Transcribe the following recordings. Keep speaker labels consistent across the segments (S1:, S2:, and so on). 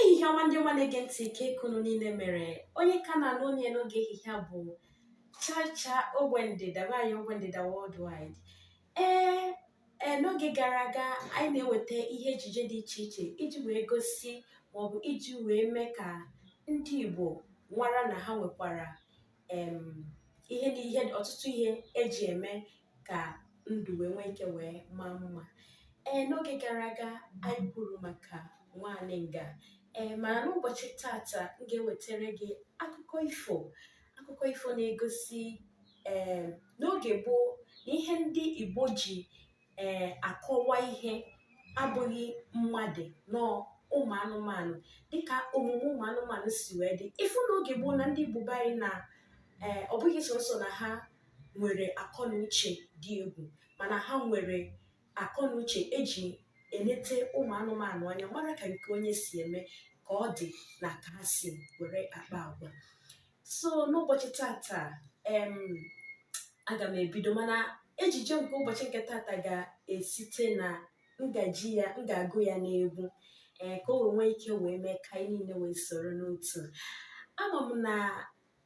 S1: ehihie ọma ndị ọma na-ege ntị kee ka unu niile mere onye ka na-anụ onu ya n'oge ehihie a bụ chacha ogbe ndịda nwaanyị ogbe ndịda worldwide ee ee n'oge gara aga anyị na-eweta ihe ejije dị iche iche iji wee gosi maọbụ iji wee mee ka ndị igbo mara na ha nwekwara ihe dị ihe ọtụtụ ihe eji eme ka ndụ wee nwee ike wee maa mma ee n'oge gara aga anyị kwuru maka nwaanyị nga ee mana n'ụbọchị tata m ga-ewetara gị akụkọ ifo akụkọ ifo na-egosi ee n'oge gboo na ihe ndị igbo ji ee akọwa ihe abụghị mmadụ nọọ ụmụ anụmanụ dịka omume ụmụ anụmanụ si wee dị ị fụ n'oge gboo na ndị Igbo be anyị na ee ọ bụghị sọsọ na ha nwere akọ na uche dị egwu mana ha nwere akọ na uche eji enete ụmụ anụmanụ anya mara ka nke onye si eme ka ọ dị na ka ha si were akpa agwa so n'ụbọchị tata em aga m ebido mana ejije nke ụbọchị nke tata ga-esite na m ga-eji ya m ga-agụ ya n'egwu ee ka o wee nwee ike wee mee ka anyị niile wee soro n'otu ama m na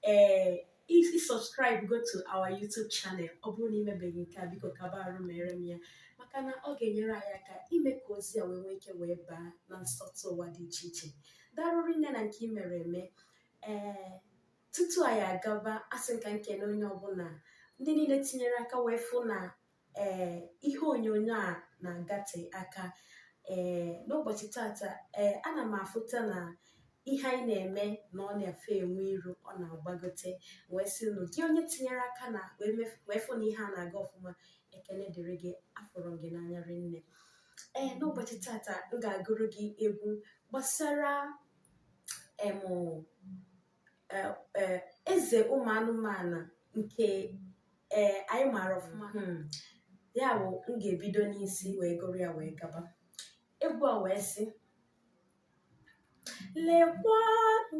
S1: ee ị subscribe go to our YouTube channel ọ bụrụ na imebeghị nke a biko kaba arụ mere m ya maka na ọ ga-enyere anyị aka ime ka ozi a wee nwee ike wee baa na nsọtụ ụwa dị iche iche darụ rinne na nke i mere eme ee tutu anyị agaba asị m ka m kene onye ọbụla ndị niile tinyere aka wee fụ na ee ihe onyonyo a na-agate aka ee n'ụbọchị tata ee ana m afụta na ihe anyị na-eme na ọ na-efe enwe iru ọ na-agbagote wee sị na gị onye tinyere aka na wee mef- wee fụ na ihe a na-aga ọfụma ekene dịrị gị afụrụ m gị n'anya rinne ee n'ụbọchị tata m ga-agụrụ gị egwu gbasara e, eze ụmụ anụmanụ nke e, anyị maara ọfụma hmm. ya bụ m ga-ebido n'isi wee gụrụ ya wee gaba egwu a wee sị lekwanụ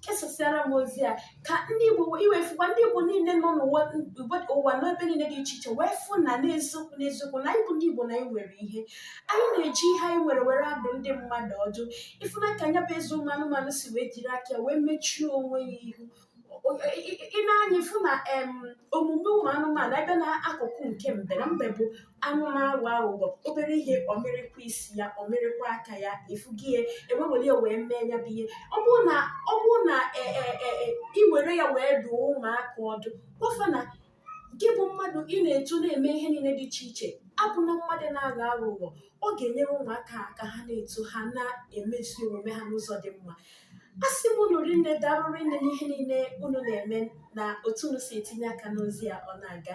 S1: kesasịara m ozi a ka ndị igbo iwefukwa ndị igbo niile nọ n'ụwa ụwa- ụwa n'ebe niile dị iche iche wee fụ na n'eziokwu n'eziokwu na anyị bụ ndị igbo na anyị nwere ihe anyị na-eji ihe anyị nwere were adụ ndị mmadụ ọdụ ị fụna ka nya bụ eze ụmụ anụmanụ si wee jiri aka ya wee mechie onwe ya ihu O- i- i- ị na-anya ịfụ na em, omume ụmụ anụmanụ ebe na akụkụ nke mbe na mbe bụ anụ na-aghọ aghụghọ obere ihe ọ mịrịkwa isi ya ọ mịrịkwa aka ya ị fụghị ya e wewere ya wee mee ya bụ ihe ọ bụrụ na ọ bụrụ na e, e, e, e, i were ya wee dụọ ụmụaka ọdụ gwa fa na gị bụ mmadụ ị na-eto na-eme ihe niile dị iche iche abụna mmadụ na-aghọ aghụghọ ọ ga-enyere ụmụaka aka ha na-eto ha na-emezi omume ha n'ụzọ dị mma a sị m unu rinne daarụ rinne n'ihe niile unu na-eme na otu unu si etinye aka n'ozi a ọ na-aga